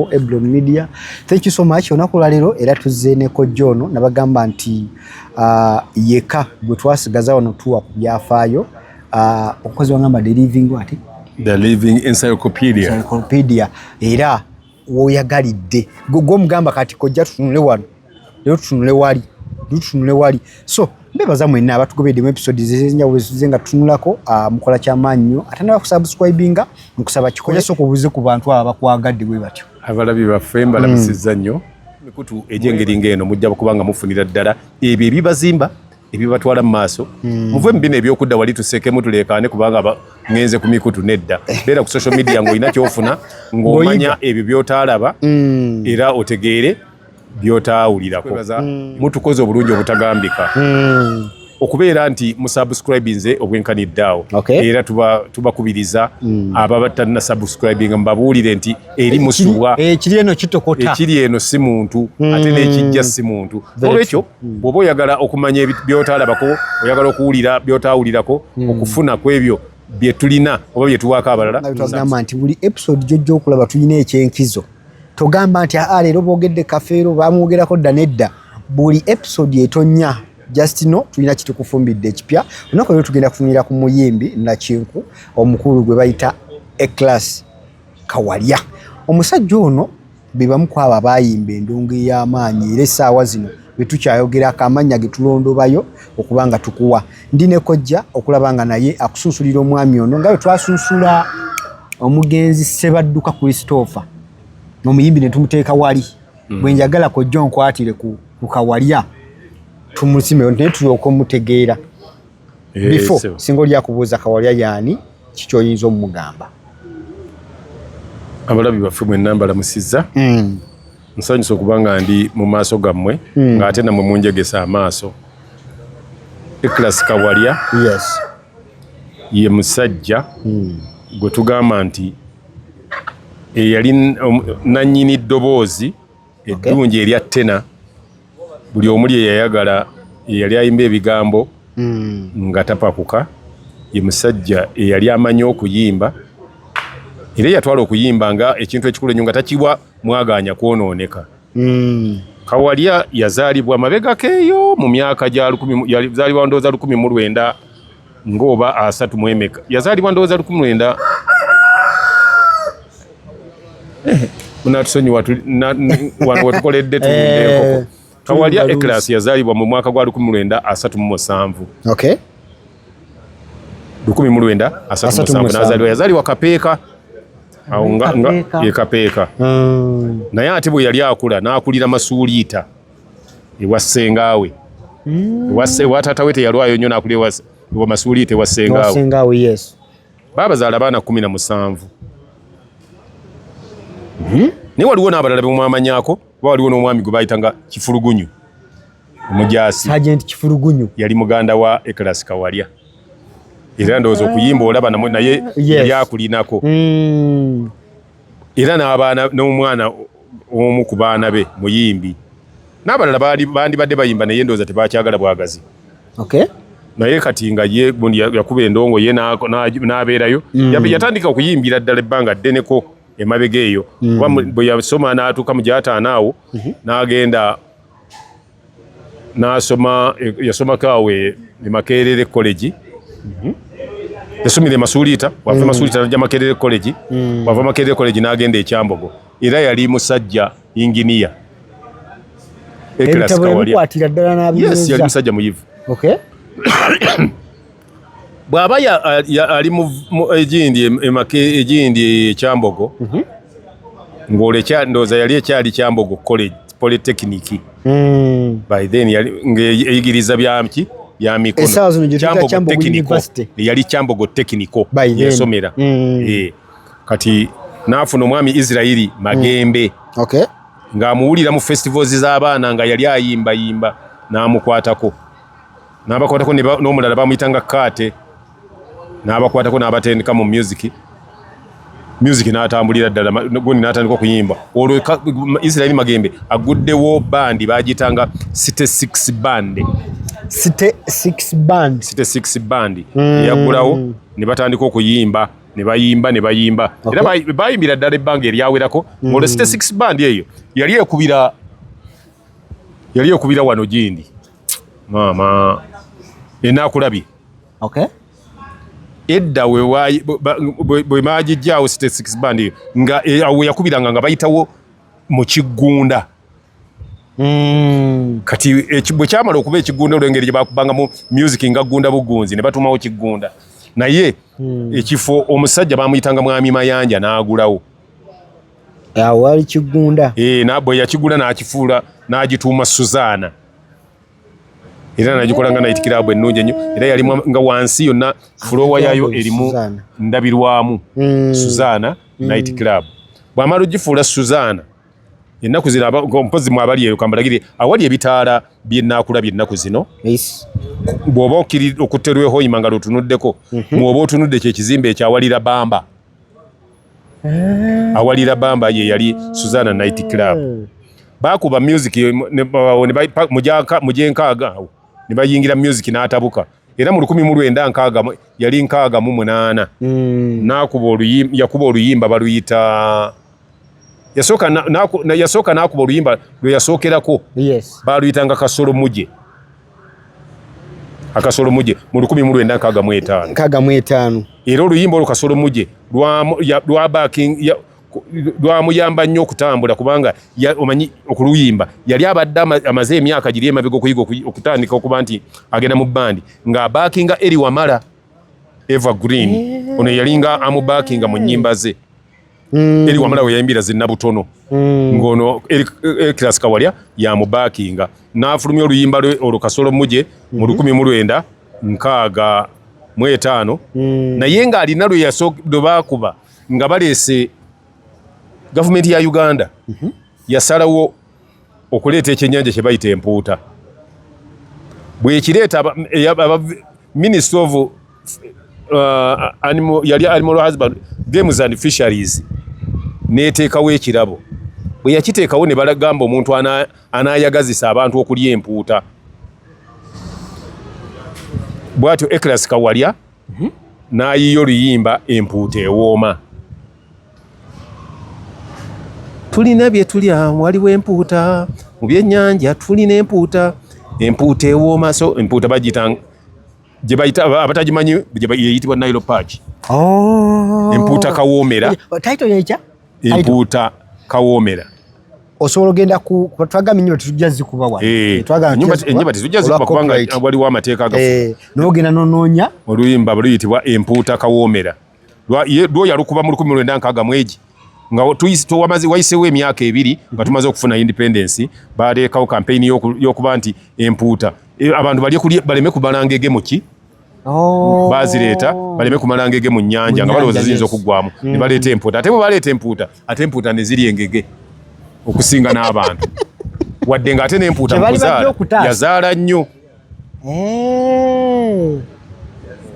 Eblon Media. Thank you so much. Onaku lalero era tuzze ne kojjo ono nabagamba nti uh, yeka gwe twasigaza wano tuwa ku byafaayo uh, omukozi wangamba the living what? The living encyclopedia. Encyclopedia. Era woyagalidde gwe omugamba kati kojja tutunule wano lero tutunule wali tutunule wali so mbebaza mwenna abatugobedde mu episode zezenjawulo zize nga tutunulako ah, mukola kyamaanyi nnyo ate naba kusubscribinga nkusaba kikola sooka obuze ku bantu abo bakwagadde bwe batyo abalabi baffe mbalabisizza hmm. nnyo mikutu egy'engeri ng'eno mujja kubanga mufunira ddala ebyo ebibazimba ebibatwala mu maaso hmm. muve mu bino ebyokudda wali tuseekemu tuleekaane kubanga ngenze ku mikutu nedda beera ku social media ng'olina kyofuna ng'omanya ebyo by'otaalaba hmm. era otegeere byotaawulirako mm. mutukoze obulungi obutagambika mm. okubeera nti musubscribinze obwenkanidde awo okay. era tubakubiriza tuba mm. aba batalina subscribinga mubabuulire nti eri musubwa ekiri eno kitokota ekiri eno si muntu mm. ate n'ekijja si muntu olwekyo mm. bw'oba oyagala okumanya byotaalabako oyagala okuwulira byotaawulirako mm. okufuna ku ebyo byetulina oba byetuwaako abalala nti buli episode gyojja okulaba tulina ekyenkizo togamba nti aa leero boogedde kafeero bamwogerako dda nedda buli episode etonya just no tulina kitukufumbidde ekipya olunaku lero tugenda kufunira ku muyimbi nakinku omukulu gwe bayita eclass kawalya omusajja ono bebamu kwabo abayimba endongo ey'amaanyi era essaawa zino bwetukyayogera akamanya getulondobayo okuba nga tukuwa ndi ne kojja okulaba nga naye akusunsulira omwami ono nga bwetwasunsula omugenzi sebadduka christopher omuyimbi netumuteeka wali mm. bwenjagala kojja onkwatire ku kawalya tumusimeyo naye tulyoka omutegeera eh, bifo singa oli akubuuza kawalya yaani kikyoyinza omumugamba abalabi baffe mwenna mbalamusizza mm. Nsanyuse okuba nga ndi mu maaso gammwe hmm. ng'ate namwe munjegesa amaaso. Ekilasi Kawalya yes. ye musajja hmm. gwe tugamba nti eyali nannyini ddoboozi eddungi erya ttena buli omu lye yayagala eyali ayimba ebigambo hmm. nga tapakuka ye musajja eyali amanyi okuyimba era eyatwala okuyimba nga ekintu ekikulu enyo nga takiwa mwagaanya kwonooneka hmm. kawalya yazaalibwa mabega keeyo mu myaka gya lukumi yazaalibwa ndooza lukumi mu lwenda ng'oba asatu mu emeka yazaalibwa ndowooza lukumi lwenda munatusonyiwa wano wetukoledde tuwundeekoko eh, kawalya ekilasi yazaalibwa mu mwaka gwa lukumi lwenda asatu mu musanvu lukumi mu lwenda asatu mu musanvu nazaalibwa yazaalibwa kapeeka awo nga yekapeeka hmm. naye ate bwe yali akula n'akulira masuuliita ewa sengaawe mm. ewa se ewa tata wete yalwayo nyo nakuli ewa ewa masuli te wa sengaawe sengaawe yes baba za labana 17 mhm ne waliwo na abalala bemwamanyako waliwo no mwami gubayitanga kifulugunyu omujasi agent kifulugunyu yali muganda wa eklas kawalya era ndozo kuyimba olaba namwe naye yes. yakulinako mm. era n'abaana n'omwana omu ku baana be muyimbi n'abalala bandibadde bayimba naye ndowooza tebakyagala bwagazi naye kati nga ye gundi yakuba endongo ye n'abeerayo mm. yatandika okuyimbira ddala ebbanga ddeneko emabega eyo mm. kuba bwe yasoma n'atuuka mu gyataano awo mm-hmm. n'agenda nasoma yasomako awo e makerere college mhm. yasomire masuliita wava mm. masuliita naja makerere college mm. wava makerere college nagenda ekyambogo era yali musajja inginiya yali musajja muyivu bw'aba ali mu egindi emaka egindi ekyambogo mhm. ng'olekya ndowooza yali ekyali kyambogo college polytechnic hmm. by then ng'eyigiriza byaki byamikonoyali kyambogo tekiniko yasomera hmm. eh. kati n'afuna omwami israeli magembe hmm. ng'amuwulira mu festivals z'abaana nga yali ayimbayimba n'amukwatako n'abakwatako n'omulala bamuyitanga kaate n'abakwatako n'abatendeka mu music music n'atambulira ddala gundi n'atandika okuyimba olwo israeli magembe aguddewo bandi bagiyitanga city six band city six band city six band hmm. eyagulawo mm. ne batandika okuyimba ne bayimba ne bayimba era okay. bayimbira ddala ebbanga eryawerako mm. olwo city six band eyo yali ekubira yali ekubira wano gindi maama enakulabye okay edda bwe maagijjaawo state six band nga e, awo yakubiranga nga bayitawo mu kiggunda hmm. kati bwe kyamala okuba ekiggunda olwengeri gye bakubangamu music nga ggunda bugunzi ne batumawo kiggunda naye hmm. ekifo omusajja bamuyitanga mwami mayanja n'agulawo awo wali kiggunda eh, bwe yakigula n'akifuula n'agituuma suzaana era nagikola nga night club ennungi ennyo era yalimu nga wansi yonna fulowa yayo erimu ndabirwamu hmm. suzaana hmm. night club bwamala ogifuula suzaana ennaku zino mpozi mu abali eyo kambalagire awali ebitaala byenakula byennaku zino bw'oba okiri okutterwehoima nga lwotunuddeko mhm. mwoba otunudde kyekizimbe ekyawalira bamba eh. awalira bamba ye yali Suzana Night Club eh. bakuba music mujenkaaga awo ne bayingira music n'atabuka era mu lukumi mu lwenda nkaaga yali nkaaga mu munaana hmm. nakuba oluyimba yakuba oluyimba baluyita yasooka yasooka nakuba oluyimba lwe yasookerako baaluyitanga kasolo muje akasolo muje mu lukumi mu lwenda nkaga mu etaano nkaga mu etaano era oluyimba olwo kasolo muje lwamuyamba nnyo okutambula kubanga omanyi okuluyimba yali abadde amaze emyaka giri emabega okuyiga okutandika okuba nti agenda mu bandi ng'abaakinga eri wamala evergreen eh. ono yalinga amubakinga mu nyimba ze mm. eri wamala weyayimbira zinabutono mm. ngono ekirasi kawalya yamubakinga nafulumya oluyimba lwe olwo kasolo muje mu mm-hmm. lukumi mu lwenda nkaaga mu etaano mm. naye nga alina lwe yasookedde bakuba nga baleese gavumenti ya uganda mm-hmm. yasalawo okuleeta ekyenyanja kye bayita empuuta bwekireeta minister of uh, animal, yali animal husband games and fisheries neteekawo ekirabo bwe yakiteekawo ne balagamba omuntu anayagazisa abantu okulya empuuta bwatyo eclas kawalya mhm. n'ayiiya oluyimba empuuta ewooma tulina bye tulya waliwo empuuta mu byennyanja tulina empuuta empuuta ewooma so empuuta bagiyita gye bayita abatagimanyi eyitibwa nile park oh. empuuta kawoomera empuuta kawoomera osobola ogenda twagambye nyumba tetujja zikuba wano eh, nyumba tetujja zikuba kubanga waliwo amateeka agafu eh, nogenda nonoonya oluyimba luyitibwa empuuta kawoomera lwo yalukuba mu lukumi lwenda nkaaga mwegi nga wayisewo emyaka ebiri nga tumaze okufuna independence baleekawo kampeyini y'okuba nti empuuta eh, abantu baleme kubalangege muki Oh. bazireeta baleme kumala ngege mu nyanja nga balowooza ziyinza okuggwamu mm. ne baleeta empuuta ate bwe baleeta empuuta ate empuuta ne ziri engege okusinga n'abantu wadde nga ate n'empuuta mukuzaala yazaala nnyo eh.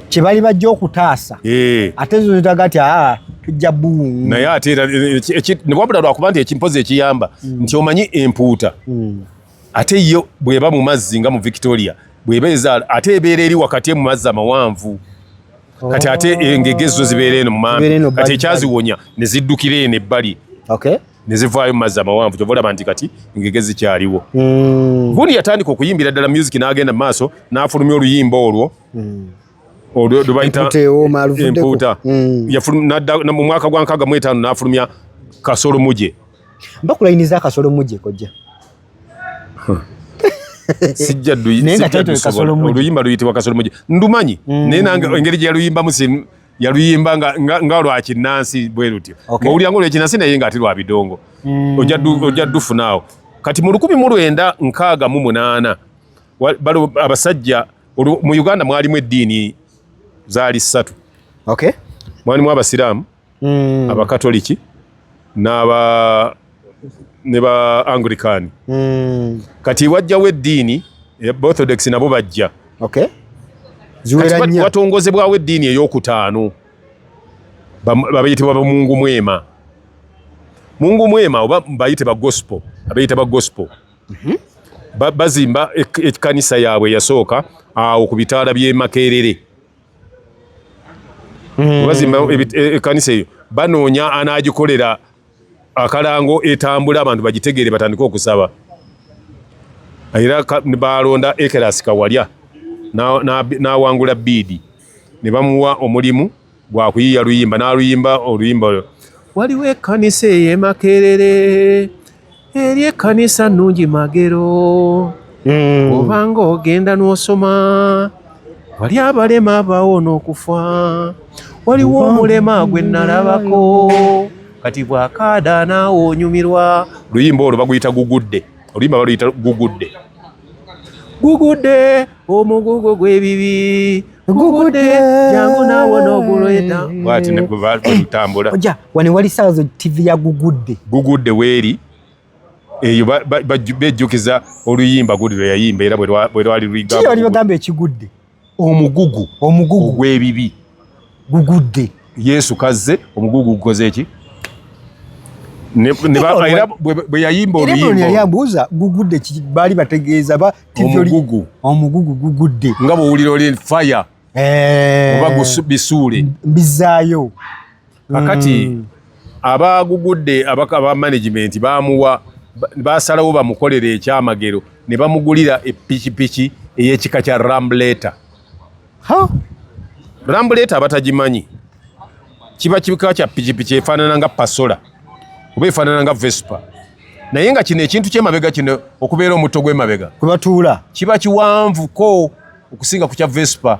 kye bali bajja okutaasa eh. ate zo zitaga ati aa ah, tujja buumu naye ate wabula lwakuba nti ekimpozi ekiyamba mm. nti omanyi empuuta mm. ate yo bweba mu mazzi nga mu victoria bweba ezaala ate ebeera eri wakati emu mazzi amawanvu kati ate oh. engege zo zibeera eno mumambi kati ekyaziwonya ne ziddukira eno ebbali ne zivaayo mu mazzi amawanvu kyova olaba nti kati engege zikyaliwo hmm. gundi yatandika okuyimbira ddala music n'agenda mu maaso n'afulumya oluyimba olwo hmm. olwo lwebayita empuuta hmm. mu mwaka gwa nkaaga mu etaano n'afulumya kasolo muje Mbakulayiniza akasolo mujje kojja. Sijja duyi. Naye nga title kasolo mujje. Oluyimba luyitibwa kasolo mujje. Ndumanyi. Mm. Naye nange engeri gye yaluyimba musi yaluyimba nga nga, nga lwa kinansi bwe lutyo. Okay. Mawulira ngolo kinansi naye nga ati lwa bidongo. Mm. Ojja du ojja dufu naawo. Kati mu 1968 balo abasajja mu Uganda mwalimu eddiini zaali ssatu. Okay. Mwalimu abasiraamu. mm. abakatoliki n'aba ne ba anglican mm. kati wajjawo eddiini orthodox nabo bajja okay. watongozebwawo eddiini eyokutaano babayitibwa bamungu mwema mungu mwema oba bayite ba gospel abayita ba gospel mm -hmm. bazimba ekkanisa yaabwe yasooka awo ku bitaala by'e Makerere. mm. bazimba e, ekanisa eyo banoonya anaagikolera akalango etambula abantu bagitegeere batandike okusaba era baalonda ekerasi kawalya n'awangula biidi ne bamuwa omulimu gwa kuyiya luyimba n'aluyimba oluyimba olwo waliwo ekkanisa ey'emakerere eri ekkanisa nnungi magero hmm. obanga ogenda n'osoma wali abalema abaawo n'okufa waliwo omulema gwe nnalabako kati bw'akaada naawe onyumirwa luyimba olwo baguyita gugudde oluyimba baluyita gugudde gugudde omugugu gw'ebibi gugudde jangu naawo n'ogulweta bwati nebwebalutambula oja wano wali saawa zo ttivi ya gugudde gugudde weeri eyo bejjukiza oluyimba gudi lwe yayimba era bwe lwali luyigamba ekigudde omugugu omugugu ogw'ebibi gugudde yesu kazze omugugu gukoze eki bwe yayimba oluyimboyabuuza gugudde baali bategeeza omugugu omugugu gugudde nga bwowulira oli fire eh. oba bisuule mbizaayo kakati mm. abagugudde aba management bamuwa basalawo bamukolere ekyamagero ne bamugulira epikipiki eyekika kya rambuleta rambuleta abatagimanyi kiba kika kya pikipiki efaanana nga pasola oba efaanana nga vespa naye nga kino ekintu kyemabega kino okubeera omutto gwemabega kwebatuula kiba kiwanvuko okusinga ku kya vespa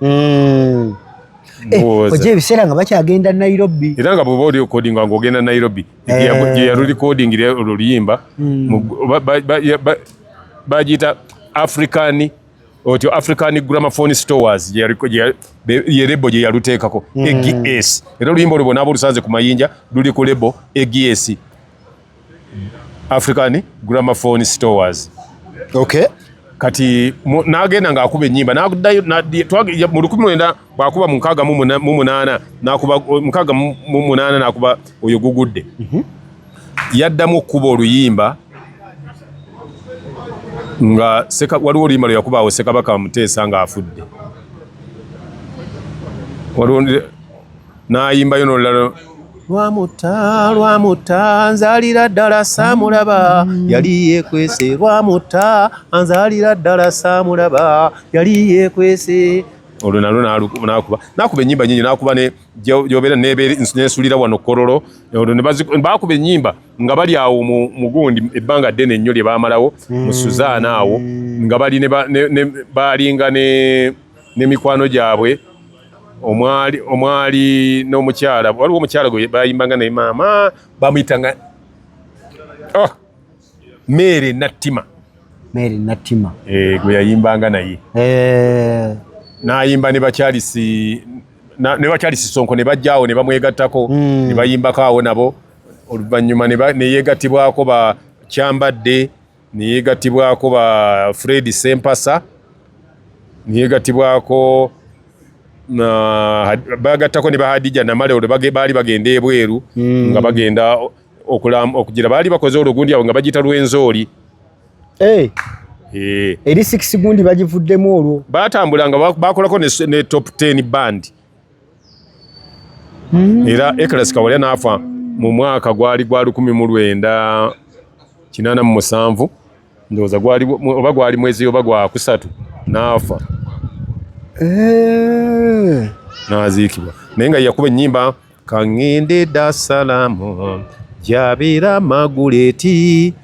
mm. Eh, oje ebiseera nga bakyagenda nairobi era nga bweba oli okodinga nga ogenda nairobi yeyalulikodingira eh. olwo luyimba hmm. bagiyita african otyo african gramaphone stores yerebo gye yaluteekako hmm. egs era oluyimba olwo bona abolusanze ku mayinja luli ku lebo egs African Gramophone Stores. Okay. Kati nagenda nga akuba enyimba nakudayo na twagi mu lukumi wenda bakuba mu nkaga mu munana nakuba nkaga mu munana nakuba oyo gugudde. Mhm. Mm yaddamu kuba oluyimba nga seka waliwo oluyimba lwe yakuba awo sekabaka muteesa nga afudde. Waliwo n'ayimbayo n'olulala lwamutta lwamutta nzalira ddala saamulaba yali yeekwese lwamutta anzalira ddala saamulaba yali yeekwese olwo nalwo nakuba nakuba enyimba nyingi nakuba gyobera nesulira wano kololo bakuba enyimba nga bali awo mugundi ebbanga ddene ennyo lye bamalawo mu suzaana awo nga bali balinga ne mikwano gyabwe omwali omwali n'omukyala waliwo omukyala gwe bayimbanga naye maama bamuyitanga oh, meere nattima meere nattima eh, gwe yayimbanga naye eh. nayimba ne bakyalisi ne bakyalisi sonko ne bajjaawo ne bamwegattako hmm. ne bayimbako awo nabo oluvannyuma ne yeegattibwako ba kyambadde neyegatibwako ba Fred Sempasa neyegatibwako bagattako ne bahadija namale olwo baali bagenda ebweru hmm. nga bagenda okugira baali bakoze olugundi awo nga bagita lwenzooli eh. eh. eri six gundi bagivuddemu olwo batambula nga bakolako ne top 10 band hmm. era Eklasi Kawalya n'afa mu mwaka gwali gwa lukumi mu lwenda kinaana mu musanvu ndowooza gwali oba gwali mwezi oba gwakusatu n'afa eh. n'aziikibwa naye nga yakuba ennyimba kangende da salamu jabira maguleti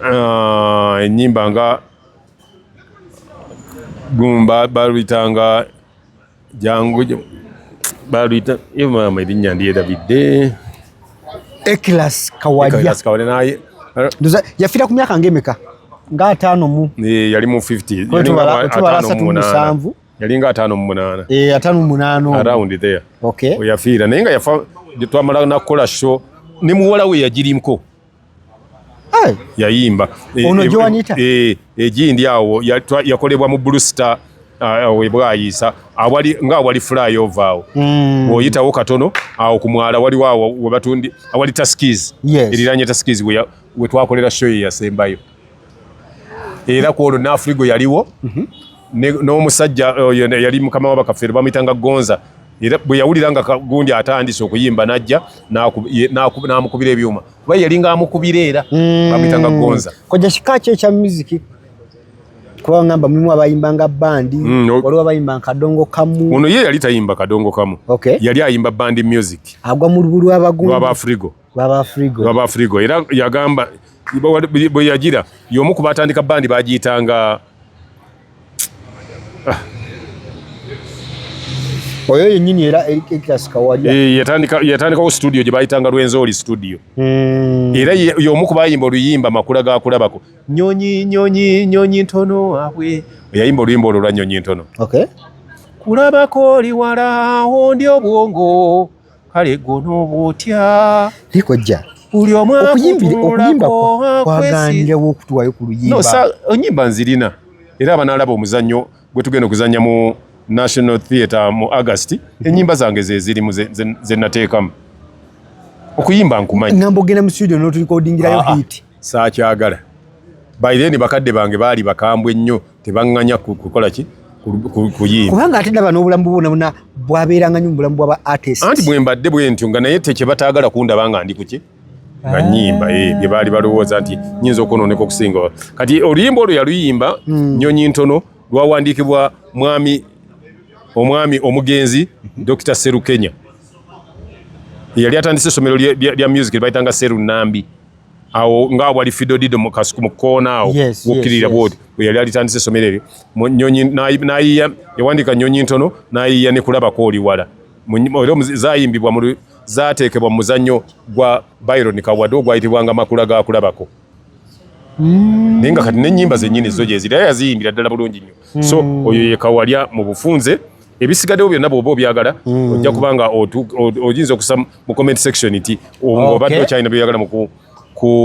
Ah, enyimba nga gumba baluyitanga jangu baluyita maama erinnya ndyerabidde ekilas kawalya naye yafira ku myaka ngaemeka nga ataano mu eh, yali mu 50 yali mu 57 yalinga ataano mu munaana eh, ataano mu munaana around there okay oyafiira naye nga yafa twamala nakukola show ne muwala we yagirimko yayimba e, ono e, gyewanita e, egindi awo yakolebwa mu blue star webwayisa awali nga awali flyover awo mm. oyitawo katono awo ku mwala waliwo awo webatundi awali taskis eriranye taskis wetwakolera show eyasembayo era ku olwo naafrigo yaliwo mhm. n'omusajja oyo yali mukama wa bakafeero bamuyitanga gonza era bwe yawulira nga kagundi atandise okuyimba n'ajja n'amukubira ebyuma kuba yalinga amukubira era mm. bamuyitanga gonza koja kika ki ekya muziki kuba ngamba mulimu abayimba nga bandi mm, waliwo abayimba kadongo kamu ono ye yali tayimba kadongo kamu yali ayimba bandi music agwa mu lubulu abagundu baba frigo baba frigo era yagamba bwe yagira y'omu ku baatandika bandi bagiyitanga ah. oyo yennyini era ekirasi kawalya eh, yatandikawo situdiyo gye bayitanga lwenzooli situdiyo hmm. era y'omu ku bayimba oluyimba makula ga kulabako nyonyi nyonyi nyonyi ntono abwe yayimba oluyimba olwo lwa nyonyi ntono kulabako oli wala ondi obwongo kale gwonooba otya naye kojja buli omu okuyimba kwaganirawo okutuwayo ku luyimba onyimba nzirina era abanalaba omuzannyo gwe tugenda okuzannya mu national theatre mu august mhm. enyimba zange zezirimu zenateekamu okuyimba nkumanyi ngamba ogenda mu studio notulikodingirayo ah, ah. hit saakyagala by then bakadde bange baali bakambwe nnyo tebaŋŋanya kukola ki kuyimba kubanga ate ndaba n'obulamu bwona bona bwabeeranga nyo mubulamu bwaba artist anti bwe mbadde bwe ntyo nga naye tekye bataagala kundaba nga ndi kuki nga ah. nyimba eh, bye baali balowooza nti nyinza okwonooneka okusinga kati oluyimba olwo yaluyimba hmm. nyonyi ntono lwawandiikibwa mwami omwami omugenzi mhm. dr serukenya yali atandise esomero lya music lyebayitanga serunambi awo nga wali fidodido mu kasuku mu koona awo yes, wokirira yes, bwoti yes. yali alitandise esomero eryo nyonyi nayiya yawandika nyonyi ntono nayiya ne kulabako oli wala era zayimbibwa mu zateekebwa mu muzannyo gwa byron kawade ogwayitibwanga makula ga kulabako mm. naye nga kati nenyimba zenyini zo gyeziri era yaziyimbira ddala bulungi nnyo mm. so oyo yekawalya mu bufunze ebisigaddewo byonna bwoba obyagala mm. ojja kuba nga oyinza okusa mu comment section nti obadde okyalina byoyagala muku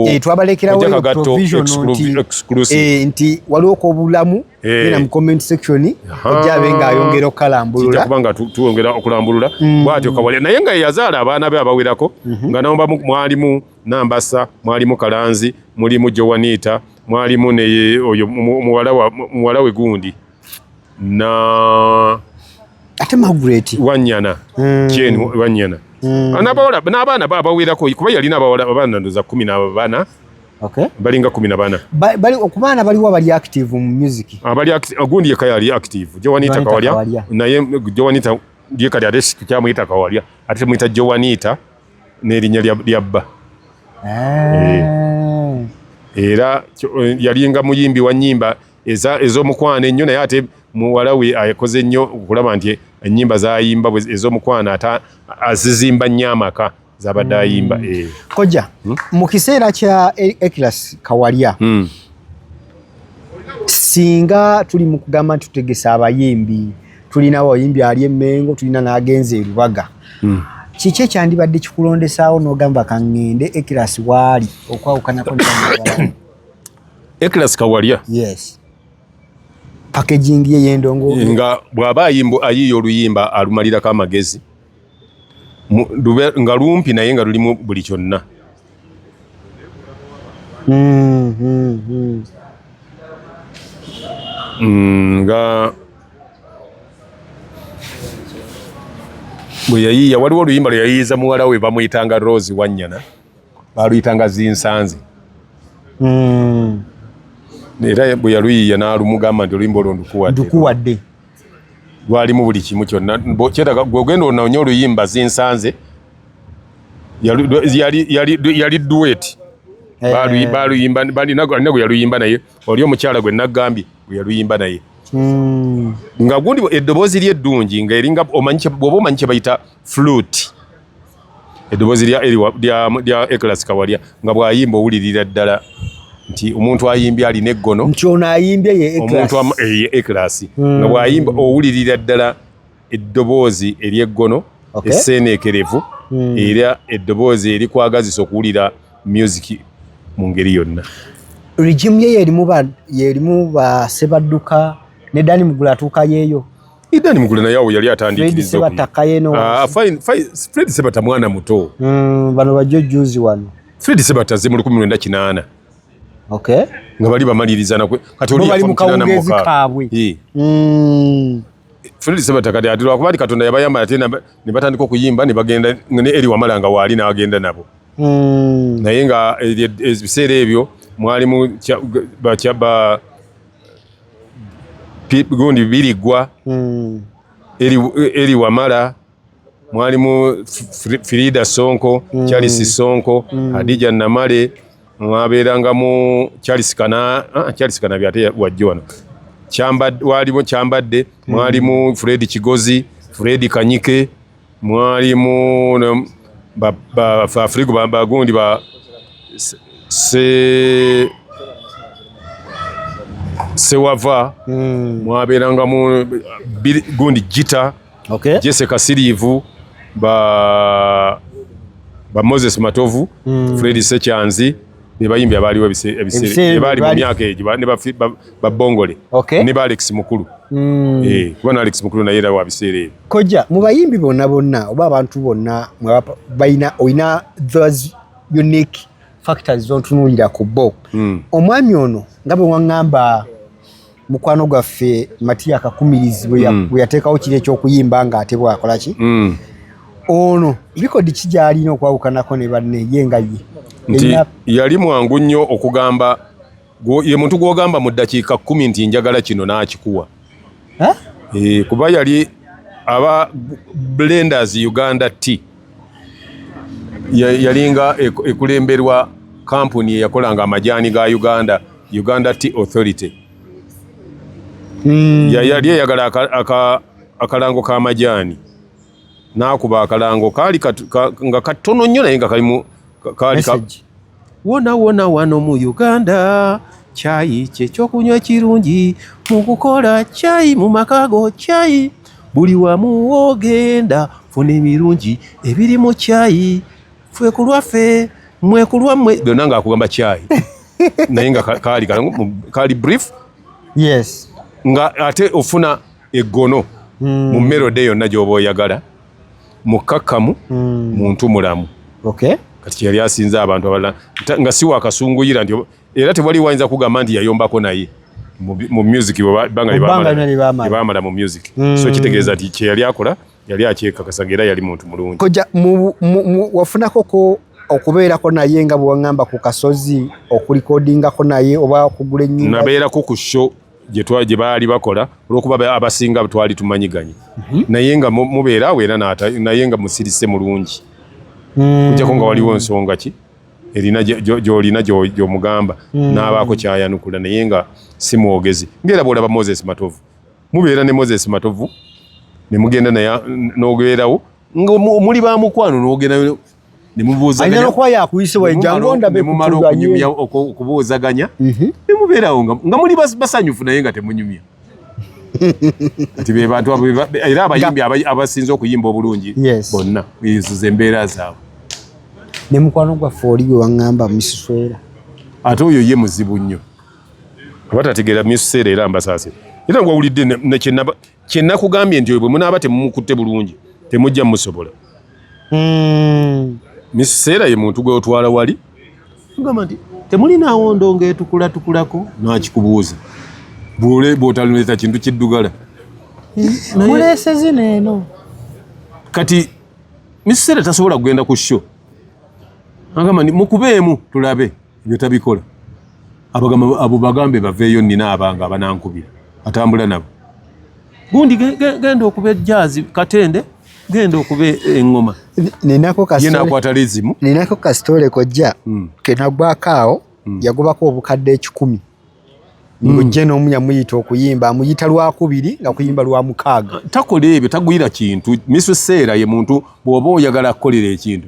eh, twabalekerawoprovisiontinti eh, waliwo kobulamu eh. era mu comment section ojja abe nga ayongera okukalambululakuba nga tuwongera okulambulula mm. bwatyo kawalya naye nga yeyazaala abaana be abawerako mhm. nga namba mwalimu nambasa mwalimu kalanzi mulimu jowaniita mwalimu neye oyo muwala we gundi na ate Margaret wanyana mm. Jane wanyana mm. anabawala n'abaana babawerako kuba yalina abawala abaana ndoza kumi na bana Okay. balinga kumi na bana ba, bali okubaana baliwo abali active mu music abali ah, ogundi yeka yali active jowanita kawalya naye jowanita yeka yali aresi tukyamuyita kawalya ate tumuyita jowanita n'erinnya lya bba ah. eh. era eh, yalinga muyimbi wa nyimba eza ezomukwano ennyo naye ate muwala we akoze nnyo okulaba nti ennyimba zayimba ezomukwano ate azizimba nnyo amaka zabadde hmm. ayimba eh. koja hmm? mu kiseera kya e-, ekilas kawalya hmm. singa tuli mu kugamba nti tutegesa abayimbi tulina abayimbi ali emengo tulina n'agenza erubaga kiki ekyandibadde kikulondesaawo n'ogamba kangende ekilas waali okwawukanako Eklas Kawalya. Yes. Packaging ye yendongo. Nga bwaba ayimbo ayiyo oluyimba alumalira ka magezi. Dube nga lumpi naye nga lulimu buli kyonna. Mm, mm, mm. Mm, nga bwe yayiiya waliwo oluyimba lwe yayiiza muwala we bamuyitanga Rose Wanyana. baaluyitanga zinsanze hmm. era bwe yaluyiya n'alumugamba nti oluyimba olwo ndukuwadde lwalimu buli kimu kyonna kyetaga gwogenda ononye oluyimba zinsanze yali duweti eh. baluyimba balina gwe yaluyimba naye oli omukyala gwe nagambye gwe yaluyimba naye hmm. nga gundi eddoboozi lyeddungi nga eringa omanyi bwoba omanyi kyebayita flute eddoboozi lya eriwa lya ekilasi kawalya nga bw'ayimba owulirira ddala nti omuntu ayimbye alina eggono nti ono ayimbye ye omuntu ekilasi eh, hmm. nga bw'ayimba owulirira ddala eddoboozi ery'eggono eseeneekerevu hmm. era eddoboozi erikwagazisa okuwulira musiki mu ngeri yonna regimu ye yerimu basebadduka ne dani mugula atuuka yeeyo Idani mugule na yao yali atandikiriza okuyi. Ah, fine, fine. Fred Sebata mwana muto. Mm, bano bajo juzi wano. Fred Sebata ze muli kumwenda kinana. Okay. Nga bali bamaliriza na kwe. Kati oli yafa mkinana mwaka. Hii. Mm. Fred Sebata kati ati lwa kubali katonda yabayamba ati na nibatandiko kuyimba ni bagenda ngene eli wamala nga wali na agenda nabo. Mm. Na yenga eh, eh, ebisere ebyo mwali mu ba chaba gundi biriggwa mm. eri, eri wamala mwalimu firida sonko mm. charles sonko mm. hadija namale mwabeerangamu charles kana ah, charles kana byate wajjo wano walimu kyambadde mwalimu mm. fred kigozi fred kanyike mwalimu bafrigo bagundi ba sewava hmm. mwabeerangamu gundi jita jese kasiriivu ba moses matovu hmm. fredi sekyanzi be bayimbi abaaliwo ebiseeraebaali mu myaka egyo ne babongole ne ba alex mukulu hmm. eh, kuba na alex mukulu naye era wa biseera ebyo koja mu bayimbi bonna bonna oba abantu bonna balina olina those unique factors zontunuulira ku bo hmm. omwami ono nga bwe waŋŋamba mukwano gwaffe matiya kakumirizi bwe hmm. yateekawo kiri ekyokuyimba nga ate bwakola ki hmm. ono likodi ki gyalina okwawukanako ne banne ye nga ye nti yali mwangu nnyo okugamba ye muntu gwogamba mu ddakiika kkumi nti njagala kino n'akikuwa eh, kuba yali aba blenders uganda tea yalinga ekulemberwa kampuni eyakolanga amajaani ga uganda uganda t authority hmm. yali eyagala akalango k'amajaani n'akuba akalango kaali nga katono nnyo naye nga kalimu kaali wona wona wano mu uganda kyayi kyekyokunywa ekirungi mu kukola kyayi mu makago kyayi buli wamu wogenda funa ebirungi ebiri mu kyayi ffe ku lwaffe mwe ku lwammwe byonna nga akugamba kyayi naye nga kaali kaali brief yes nga ate ofuna eggono hmm. mu melode yonna gyoba oyagala mukkakkamu hmm. muntu mulamu okay. kati kyeyali asinza abantu abalala nga si wakasunguyira nti era tewali wayinza kugamba nti yayombako naye mu music bebamala mu music hmm. so kitegeeza nti kyeyali akola yali akyekakasaga era yali muntu mulungi koja wafunakoko okubeerako naye nga bwewaŋamba ku kasozi okulikodingako naye oba okugula ennyumba nabeerako ku show gye baali bakola olwokuba abasinga twali tumanyiganye mhm. naye nga mubeera awo era naye nga musirise mulungi hmm. kujjako nga waliwo nsonga ki erina gyolina gyomugamba hmm. n'abaako kyayanukula naye nga si mwogezi ngaera bwolaba moses matovu mubeera ne moses matovu ne mugenda naye n'ogeerawo nga muli ba mukwano n'ogendayo nemubuuzaganya nokuba yakuyisibwa ejja ngonda be kumala okunyumya okubuuzaganya mhm. nemubeerawo nga muli basanyufu naye nga temunyumya kati be bantu era abayimbi abasinze okuyimba obulungi bonna ezo zembeera zaabwe ne mukwano gwaffe oli gwe waŋŋamba musiswera ate oyo ye muzibu nnyo abatategeera musisera era mbasaasira era nga wawulidde nekyenaba kye nakugambye nti oyo bwe munaaba temumukutte bulungi temujja musobola hmm. miseera ye muntu gwe otwala wali tugamba nti temulinaawo ndongo etukulatukulako nakikubuuza bwotaluleeta kintu kiddugala mulesezino eno kati miseera tasobola kugenda ku sho agamba nti mukubeemu tulabe ebyo tabikola abagamba abo bagambe baveeyo nina abanga abanankubira atambula nabo gundi genda okuba ejjaazi katende genda okuba engoma yenakwata lizimu ninako kasitole kojja hmm. kenagwako awo hmm. yagobako obukadde ekikumi mujje hmm. n'omu yamuyita okuyimba amuyita lwakubiri nga kuyimba lwa mukaaga takola ebyo tagwira kintu misu seera ye muntu bw'oba oyagala kukolera ekintu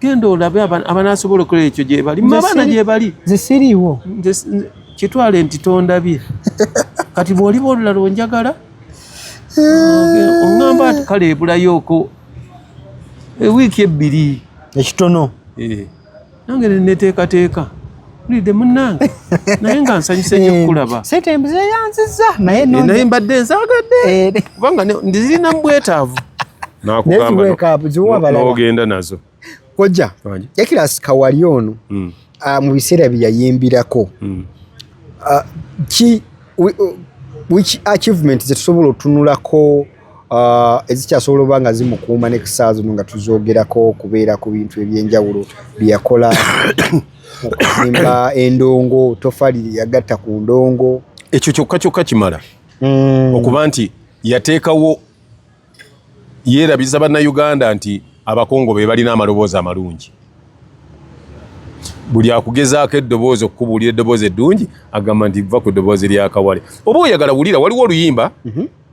genda olabe abanasobola okola ekyo gyebali abaana gyebali nze siriiwo kitwale nti tondabye kati bwoliba olulala onjagala oŋamba ti kale ebulayooko ewiiki ebbiri ekitono eh, nange neteekateeka Nide munange naye nga nsanyuse nnyo kukulaba. Eh, sente embuze yanziza naye eh, naye mbadde nzaagadde eh, kubanga ndizirina mu bwetaavu. Nakugambaogenda nazo kojja Ekirasi Kawali ono hmm. ah, mu biseera bye yayimbirako hmm. ah, ki which achievement ze tusobola otunulako Ah, ezikyasobola oba nga zimukuuma ne kusaa zino nga tuzogerako okubeera ku bintu ebyenjawulo byeyakola okuzimba endongo tofali yagatta ku ndongo ekyo kyokka kyokka kimala mm. okuba nti yateekawo yeerabiza bannayuganda nti abakongo be balina amaloboozi amalungi buli akugezaako eddoboozi okukubuulira eddoboozi eddungi agamba nti va ku ddoboozi lyakawale oba oyagala wulira waliwo oluyimba mm -hmm.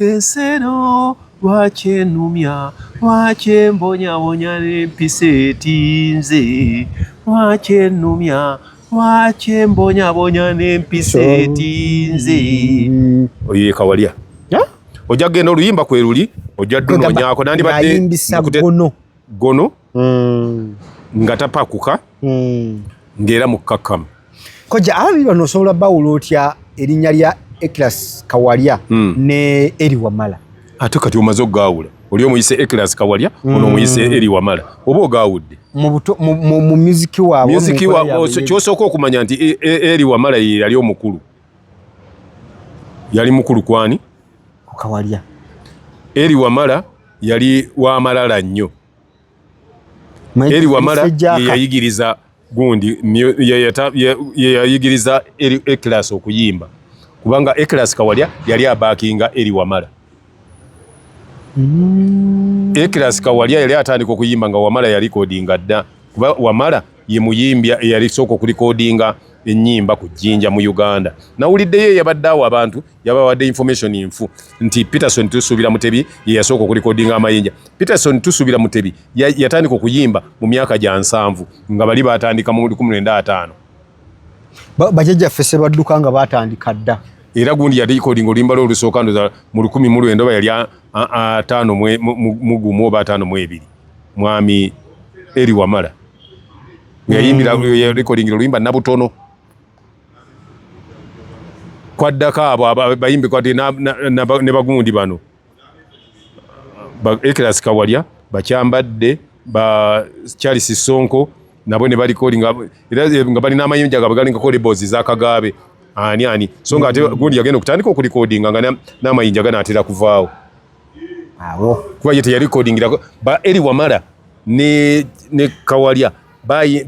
Ensi eno lwaki enumya, lwaki embonyabonya n'empisa etinze? Lwaki enumya, lwaki embonyabonya n'empisa etinze? Oyo ye Kawalya. Ojja kugenda oluyimba kwe luli, ojja ddunonyako nandibadde. gono mm. nga tapakuka mm. ng'era mukkakkamu koja ababi bano osobola bawula otya erinnya lya eclas kawalya mm. ne eri wamala ate kati omaze okugaawula oli omuyise eclas kawalya mm. ono omuyise eri wamala oba ogaawudde mu muziki waabwe kyosooka okumanya nti e, e, eri wamala ye yali omukulu yali mukulu kwani kukawalya eri wamala yali wamalala nnyo eri wamala yeyayigiriza gundi yeyayigiriza eri ekilasi okuyimba kubanga ekilasi kawalya yali abakinga eri wamala mm. ekilasi kawalya yali atandika okuyimba nga wamala yalikodinga dda kuba wamala Ye muyimbi eyali sooka okulikodinga ennyimba ku jjinja mu Uganda. Nawuliddeyo eyabadde awo abantu yabawadde information nfu nti Peterson Tusuubira Mutebi ye yasooka okulikodinga amayinja. Peterson Tusuubira Mutebi yatandika okuyimba mu myaka gya nsanvu nga bali baatandika mu lukumi lwenda ataano. Bajajjaffe sebadduka nga baatandika dda. era gundi yalikodinga oluyimba lwe olusooka ndoza mu lukumi mu lwenda oba yali ataano mu gumu oba ataano mu ebiri. mwami Eli Wamala yayimbira mm. recording oluyimba nabutono kwaddako abo bayimbi kwati ne bagundi bano ekilas kawalya bakyambadde ba charles sonko nabo ne balikoli nga balina amayinja gabwe galinga kolebozi zakagabe ani ani so nga ate mm. gundi yagenda okutandika okulikodinga nga n'amayinja ganaatera kuvaawo awo kuba ye teyalikodingira ba eri wamala ne ne kawalya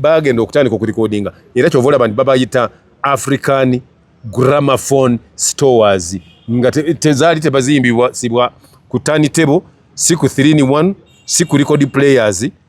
bagenda okutandika okulikodinga era kyova olaba nti babayita african gramophone stores nga tezaali tebazimbibwa sibwa ku tani table si ku 3 in 1 si ku record players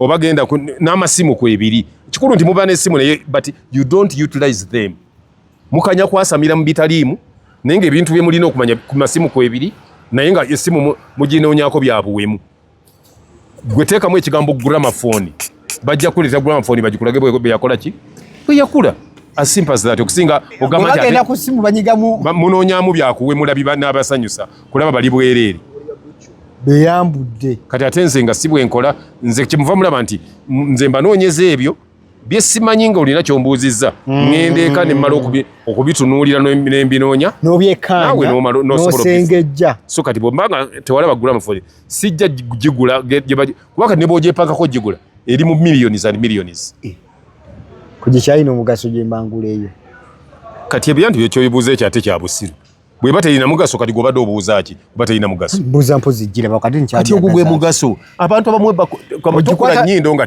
oba genda n'amasimu kwebiri kikulu nti muba n'essimu naye but you don't utilize them mukanya kwasamira mu bitaliimu naye nga ebintu bye mulina okumanya ku masimu kwebiri naye nga essimu muginoonyako byabuwemu gwe teekamu ekigambo gramafoni bajja kuleeta gramafoni bagikulage bweyakola ki bweyakula asimpa zati okusinga ogamba munonyamu byakuwemula biba n'abasanyusa kulaba bali bwereere beyambudde kati ate nze nga si bwenkola nze kyemuva mulaba nti nze mbanoonyeza ebyo byesimanyi nga olina kyombuuzizza mm. ŋenda eka nemmala okubitunuulira nembinoonya nobyekanawenosengejja so kati bwembanga tewalaba gula mufuli sijja gigula kuba kati nebwogyepakako gigula eri mu millions and millions eh. kugikyalina omugaso gyembangula eyo kati ebyanti byekyoyibuuza ekyo ate kyabusiru bweba terina mugaso kati gwobadde obuuza ki oba terina mugaso mbuuza mpozi gira bakati nkyakati ogwo gwe mugaso abantu abamwebako kamutukula nyindo nga